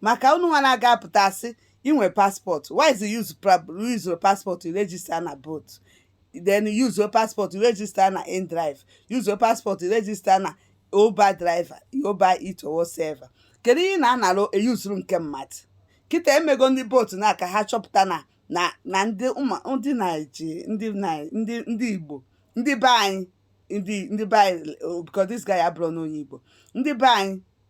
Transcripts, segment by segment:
maka unu nwa na-aga apụta asị inwe passport why is use your passport to register na bolt then use your passport to register na indrive use your passport to register na uber driver uber eats or whatsoever kedu ihe ị na-anara eyuzuru nke mmadụ kịta emego ndị bolt nwa ka ha chọpụta na na na ndị ndị naiji ndị ndị ndị igbo ndị be anyị ndị ndị be anyị oh, because this guy abụrọnụ onye igbo ndị be anyị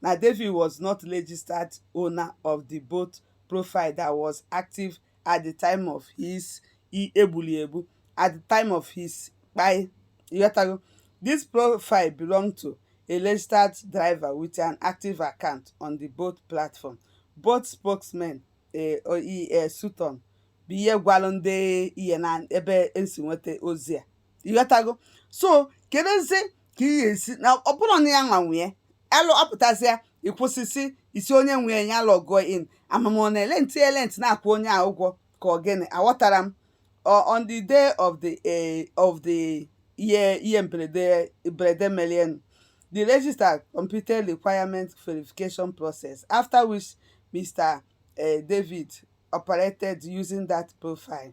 na David was not registered owner of the Bolt profile that was active at the time of his egbuli egbu at the time of his kpai ịghọtago this profile belonged to a registered driver with an active account on the Bolt platform Bolt spokesman e e Sutton bụ ihe gwalụ ndị ihe na ebe esi nweta ozi a ịghọtago so kedụzi ka ị ga-esi na ọ bụrụ na ya nwa nwee alụ apụtasịa ịkwụsịsị isi onye nwe ya lọgụọ in amam ọ na-elenti elenti na-akwụ onye a ụgwọ ka ọ gịnị aghọtara m Ọ- on the day of the eh, of the ihe ihe mberede mberede melienụ the register completed requirement verification process after which mr eh, david operated using that profile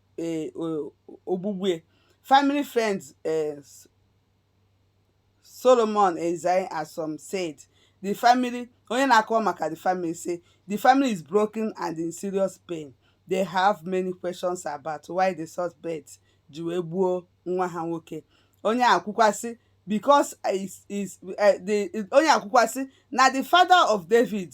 eh, ogbugbu family friend eh, solomon izang ashoms said the family onye na-akọwa maka the family say the family is broken and in serious pain they have many questions about why the suspect ji wee gbuo nwa ha nwoke onye a kwukwasị because is is eh, the onye a kwukwasị na the father of david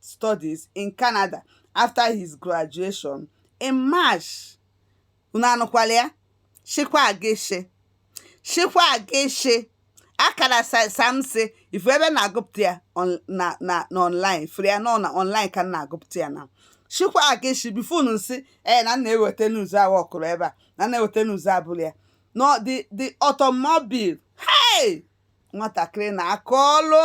Studies in Canada after his graduation in March. Unu anụkwala ya? Shikwa Ageshe. Shikwa Ageshe. Akara Samsi ị fụ ebe na-agụpụta ya na na online fere ya nọ na online ka na-agụpụta ya na Shikwa Ageshe before unu nsị ee eh, na na-eweta news ahụ ọkụrụ ebe a na na-eweta news abụrọ ya no the the automobile hey nwatakịrị na aka ọlụ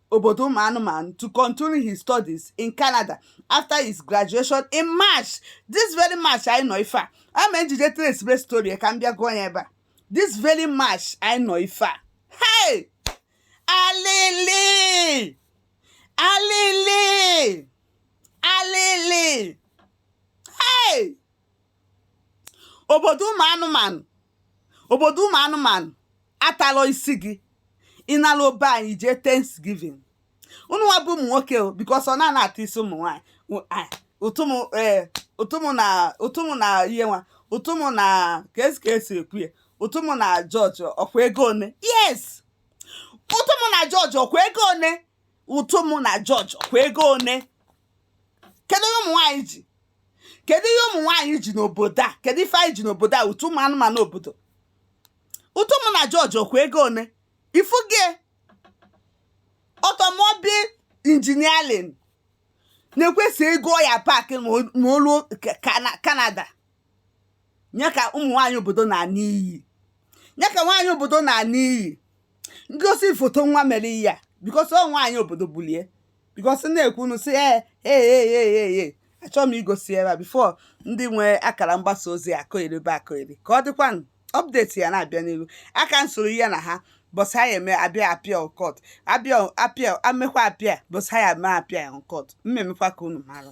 obodo ụmụ anụmanụ to continue his studies in Canada after his graduation in March this very March anyị nọ ife a ama ejije tracebe story ka m bịa gụọ ya ebe a this very March anyị nọ ife a hey alili alili alili hey obodo ụmụ anụmanụ obodo ụmụ anụmanụ atalọ isi gị ị naluo be anyị jee thanksgiving unu nwa bụ ụmụ nwoke o because ọ na-ana ata isi ụmụ nwaanyị Ụ- a- ụtụmụ ee ụtụmụ na ụtụmụ na ihe nwa ụtụmụ na ka esi ka esi ekwu ya ụtụmụ na jọjọ ọkwa ego one yes ụtụmụ na jọjọ ọkwa ego one ụtụmụ na jọjọ ọkwa ego one kedu ihe ụmụ nwaanyị ji kedu ihe ụmụ nwaanyị ji n'obodo a kedu ife anyị ji n'obodo a ụtụ ụmụ anụmanụ obodo ụtụmụ na jọjọ ọkwa ego one ifuge automobile engineering na-ekwesị ego ya park ma olu Canada nye ka ụmụ nwaanyị obodo na-ana n'iyi nye ka nwaanyị obodo na-ana n'iyi ngosi foto nwa mere ihe a because ọ nwaanyị obodo bulie because na-ekwu unu si ee ee ee ee achọrọ m igosi ebe a before ndị nwe akara mgbasa ozi akọgheribe akọgheri ka ọ dịkwanụ update ya na-abịa n'ihu aka m soro ihe na ha bọsị anyị eme abịa apịa ọkọt abịa apịa amekwa apịa bọsị anyị eme apịa ọkọt mmemekwa ka unu mara